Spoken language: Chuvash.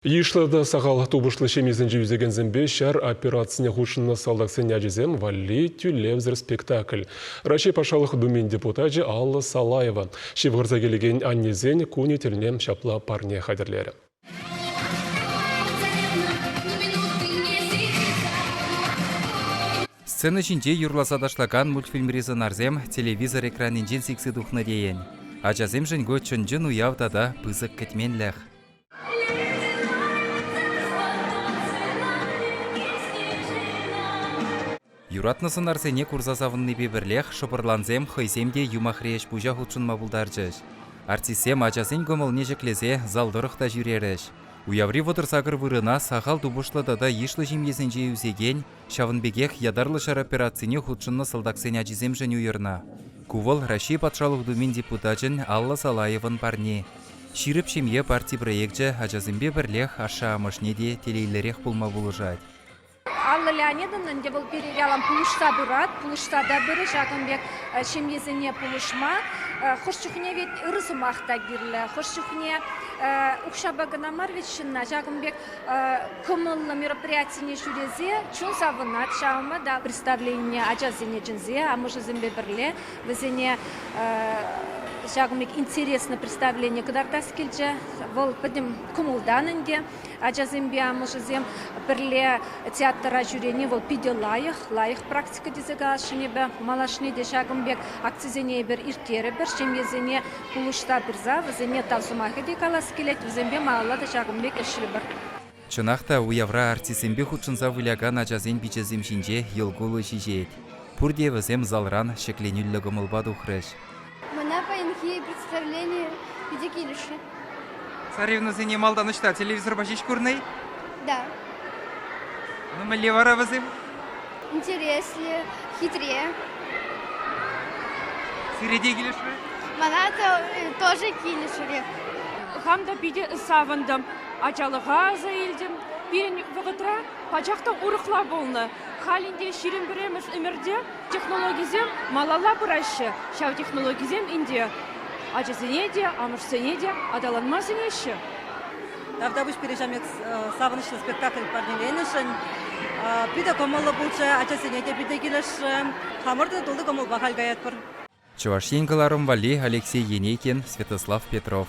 Йышлӑ та сахал тупӑшлӑ ҫемьесенче ӳсекенсемпе ҫар операцине хутшӑннӑ салтаксен ачисем валли тӳлевсӗр спектакль. Раҫҫей Патшалӑх Думин депутачӗ Алла Салаева ҫывхарса килекен аннесен кунӗ тӗлне ҫапла парне хатӗрлерӗ. Сцена ҫинче юрласа ташлакан мультфильмри сӑнарсем телевизор экранӗнчен сиксе тухнӑ тейӗн. Ачасемшӗн ку чӑн-чӑн уяв тата пысӑк кӗтменлӗх. Юратнӑ сӑнарсене курса савӑннипе пӗрлех шӑпӑрлансем хӑйсем те юмахри ӗҫ-пуҫа хутшӑнма пултарчӗҫ. Артистсем ачасен кӑмӑлне ҫӗклесе зал тӑрӑх та ҫӳрерӗҫ. Уяври вӑтӑр сакӑр вырӑна сахал тупӑшлӑ тата йышлӑ ҫемьесенче ӳсекен Ҫавӑн пекех ятарлӑ ҫар операцине хутшӑннӑ салтаксен ачисемшӗн уйӑрнӑ. Ку вӑл Раҫҫей Патшалӑх Думин депутачӗн Алла Салаевӑн парни. Ҫирӗп ҫемье парти проекчӗ ачасемпе пӗрлех ашшӗ-амӑшне те телейлӗрех пулма пулӑшать. Алла Леонидовна ӗнтӗ вӑл пирӗн ялан пулӑшса пырать, пулӑшса та пырӗ ҫакӑн пек ҫемьесене пулӑшма. Хӑш чухне вӗт ырӑ сӑмах та кирлӗ, хӑш чухне укҫапа кӑна мар вӗт ҫынна ҫакӑн пек Кӑмӑллӑ мероприятине ҫӳресе чун савӑнать ҫавӑнпа та представленине ачасене чӗнсе амӑшӗсемпе пӗрле вӗсене ҫакӑн пек интересно представление кӑтартас килчӗ. Вӑл пӗтӗм кӑмӑлтан ӗнтӗ ачасемпе амӑшӗсем пӗрле театра ҫӳрени вӑл питӗ лайӑх, лайӑх практика тесе каласшӑн эпӗ. Малашне те ҫакӑн пек акцисене эпир ирттерӗпӗр, ҫемьесене Кулӑшса пырса вӗсене тав сӑмахӗ те калас килет, вӗсемпе малалла та ҫакӑн пек ӗҫлӗпӗр. Чӑнах та, уявра артистсемпе хутшӑнса вылякан ачасен пиччесем ҫинче йӑл кулӑ ҫиҫет. Пурте вӗсем залран ҫӗкленӳллӗ кӑмӑлпа тухрӗҫ. Мана паянхи представлени питӗ килӗшрӗ. Царевнӑсене малтан ӑҫта телевизорпа ҫеҫ курнӑ-и? Да. Ну мӗнле вара вӗсем? интереслӗ, хитре. Сире те килӗшрӗ? Мана тоже килӗшрӗ. Хам та питӗ савӑнтӑм. Ачалӑха аса илтӗм. Пирӗн вӑхӑтра пачах та урӑхла пулнӑ. Халь ӗнтӗ ҫирӗм пӗрремӗш ӗмӗрте технологисем малалла пыраҫҫӗ. Ҫав технологисем ӗнтӗ ачасене те, амӑшсене те аталанма сӗнеҫҫӗ. Тавтапуҫ пире ҫамрӑк савӑнӑҫлӑ спектакль парнеленӗшӗн. Питӗ кӑмӑллӑ пулчӗ ачасене те питӗ килӗшрӗм. Хамӑртан тулли кӑмӑлпа халь каятпӑр. Чӑваш Ен кӑларӑм валли Алексей Енейкин, Святослав Петров.